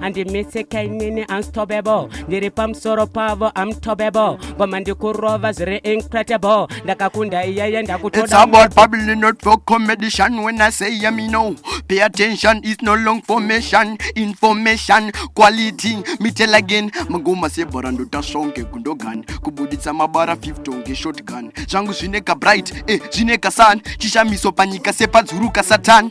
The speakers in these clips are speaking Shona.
andimitsika inini unstoppable ndiri pamusoro pavo amtobable ngoma ndikurova zviri incredible ndakakunda iyeye ndakutodamino pay attention is no long formation information quality mitel again magoma sebhora ndotasvonge gundogani kubuditsa mabara 50 ngeshotgun zvangu zvine kabright e eh, zvine kasan chishamiso panyika sepadzuru kasatan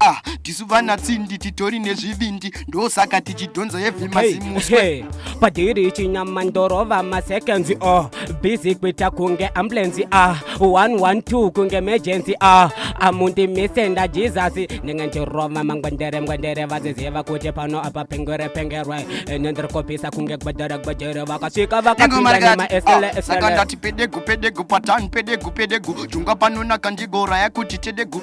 ah tisu vana tsindi titori nezvivindi ndosaka tichidhonza hevi mazimuswe padhiri chinyama ndorova masekenzi o oh. bizi kuita kunge ambulenzi a ah. 112 kunge emergency a ah. amundi mise ndajizasi ndinge ndirova mangwendere ngwendere vaziziva kuti pano apa pengere pengerwe ene ndiri kopisa kunge gwedere gwedere vakasvika vakapindanemaeseleesakandati pedegu pedegu patani pedegu pedegu jungwa panonaka ndigoraya kuti tedegu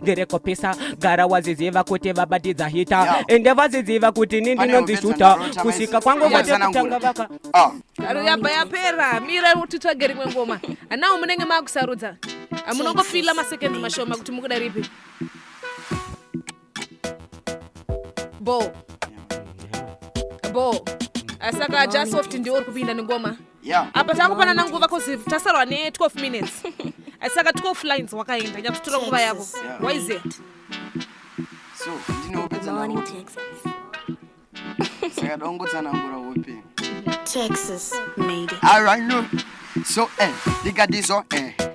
ndiri kupisa gara waziziva kuti vabatidza hita yeah. ende vaziziva kuti ni ndinonzishuta kusvika kwangu vatekutanga vaka ah. garo yabva yapera mira titsvage rimwe ngoma hanawo munenge maakusarudza amunongofila masekendi mashoma kuti mukuda ripi bo bo asaka jasoft ndiwo uri kupinda nengoma yeah. yeah. apa takupanana nguva cause tasarwa ne 12 minutes saka 12 lines wakaenda nyatsotora nguva yavo why is it so ndinopedza saka dongotsanangura hope texas made it all right no so eh ndikadiso eh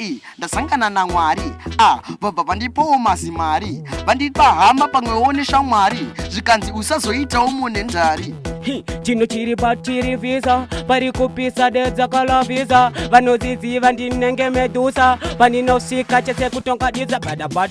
i ndasangana namwari a vabva vandipawo mazimari vandipa hama pamwewo neshamwari zvikanzi usazoitawo mune ndari chinhu chiri patiri visa pari kupisa dedzakala visa vanoziziva ndinenge medusa pandinosvika chese kutongadisa bada but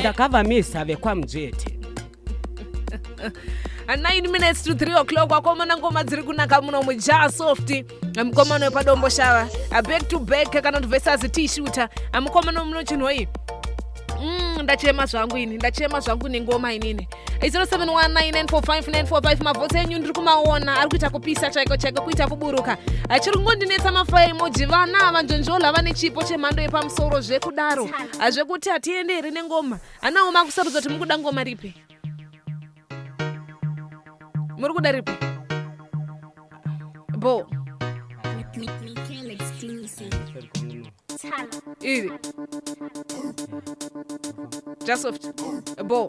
ndakavamisa vekwamujeti And 9 minutes to 3 o'clock wakomana ngoma dziri kunaka muno mujaa soft mukomana wepadombo shava back to back kana kuti versus t shooter mukomana muno chinhoyi mm, ndachema zvangu ini ndachema zvangu nengoma inini 0719945945 mavhotsi enyu ndiri kumaona ari kuita kupisa chaiko chaiko kuita kuburuka achiri kungondinetsa mafaya emoji vana ava njonjola vane chipo chemhando yepamusoro zvekudaro zvekuti hatiende here nengoma anawo makusarudza kuti mukuda ngoma ripi muri kuda ripi bo Iri. Just soft. A ball.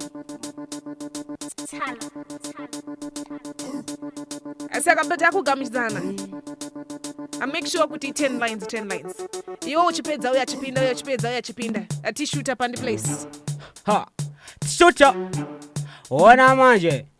Saka but akugamuchidzana. I make sure kuti 10 lines 10 lines. Iwo uchipedza uya chipinda uya uchipedza uya chipinda. Ati shooter pandi place. Ha. Shooter. Ona manje.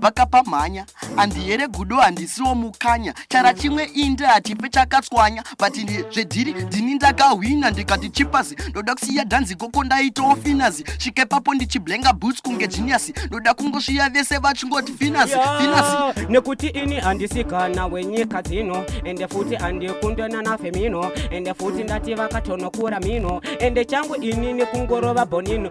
vakapa mhanya andihere gudo handisiwo mukanya chara chimwe inde hatipe chakatswanya but zvedhiri ndini ndakahwina ndikati chipasi ndoda kusiya dhanzi koko ndaitawo finazi svike papo ndichiblenga boots kunge genius ndoda kungosviya vese vachingoti finazi finazi nekuti ini handisikana wenyika dzino ende futi handikundena nafemino ende futi ndati vakatonokura mino ende changu ini nekungorova bonino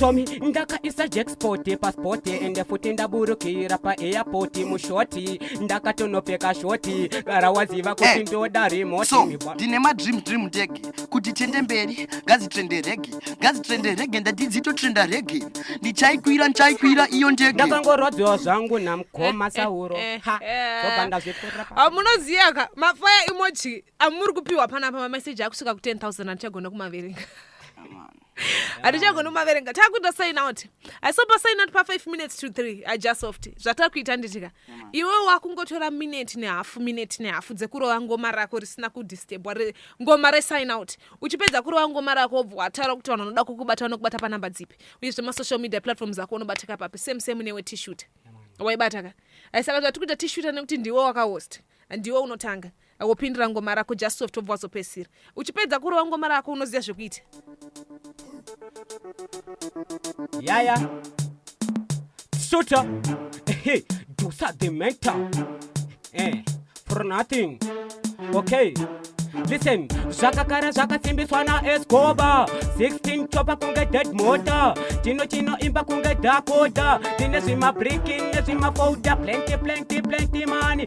somi ndakaisa jackspot paspot ende futi ndaburukira paairport mushoti ndakatonopfeka shoti gara waziva kuti hey, eh, ndoda remote so, ndine madream dream ndege kuti tiende mberi ngazitrende rege ngazitrende rege ndatidzitotrenda rege ndichaikwira ndichaikwira iyo ndege ndakangorwadziwa zvangu namkoma sauro eh, eh, hamunoziyaka mafaya imoji amuri kupiwa panapa mameseji akusvika ku 10 000 atichagona kumaverenga hatichagona kumaverenga takuita sign out asi pa sign out pa 5 minutes to 3 i just soft zvatakuita nditika iwe wakungotora minute nehafu minute nehafu dzekurova ngoma rako risina kudistebwa ngoma resign out uchipedza kurova ngoma rako wobva wataura kuti vanhu vanoda kukubata vanokubata panumber dzipi uyezve masocial media platforms ako unobatika papi same same newe tishuta waibataka aisaka tati kuita tishuta nekuti ndiwe wakahost ndiwe unotanga wopindira ngoma rako just soft obva wazopedzisira uchipedza kurova ngoma rako unoziva zvekuita yaya sota hey, dosa the mental eh, for nothing okay listen zvakakara zvakasimbiswa naescoba 16 chopa kunge dead mota chino chino imba kunge dakota tine zvimabriki nezvimafoda plenty plenty plenty mani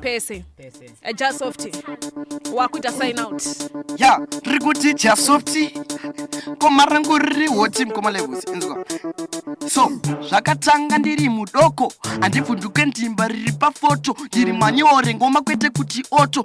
pese eh, jasofti wakuita sign out ya riri kuti jasofti koma rangu riri hoti mukoma levus inzwa so zvakatanga ndiri mudoko handibvunduke ndimba riri pafoto ndiri manyore ngoma kwete kuti oto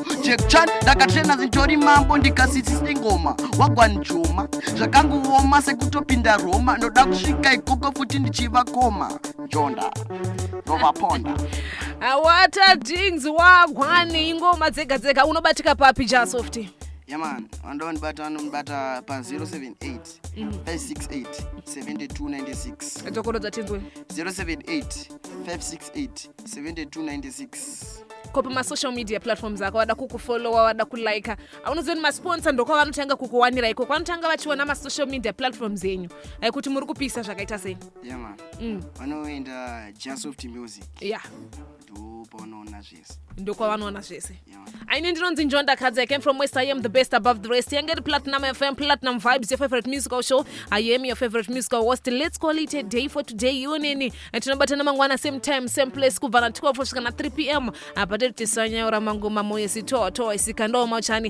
Jack Chan ndakatrena zintori mambo ndikasitsi sengoma wagwanjoma zvakanguoma sekutopinda Roma ndoda kusvika ikoko futi ndichivakoma njonda ndovaponda awata dings wagwani ingoma dzega dzega unobatika papi jasoft yaman vandoda vandibata vanondibata pa 078 568 7296 dzokorodza tinzwe 078 568 7296 ko pamasocial media platforms ako wada kukufollowa wada kulika aunoziva kuti masponsa ndokwavanotanga kukuwanira iko kwanotanga vachiona masocial media platforms enyu ai kuti muri kupisa zvakaita sei yama mm. vanoenda jasoft music ya ndopaunoona zvese ndokwavanoona zvese aine ndinonzi njonda kadzi i came from west i am the best above the rest yange iri platinum fm platinum vibes your favorite musical show i am your favorite musical host let's call it a day for today yoneni tinobatana mangwana same time same place kubva na 12 kusvika na 3 pm apa tiri tisanyaura mangoma moyo sitoa toa isikandawo machani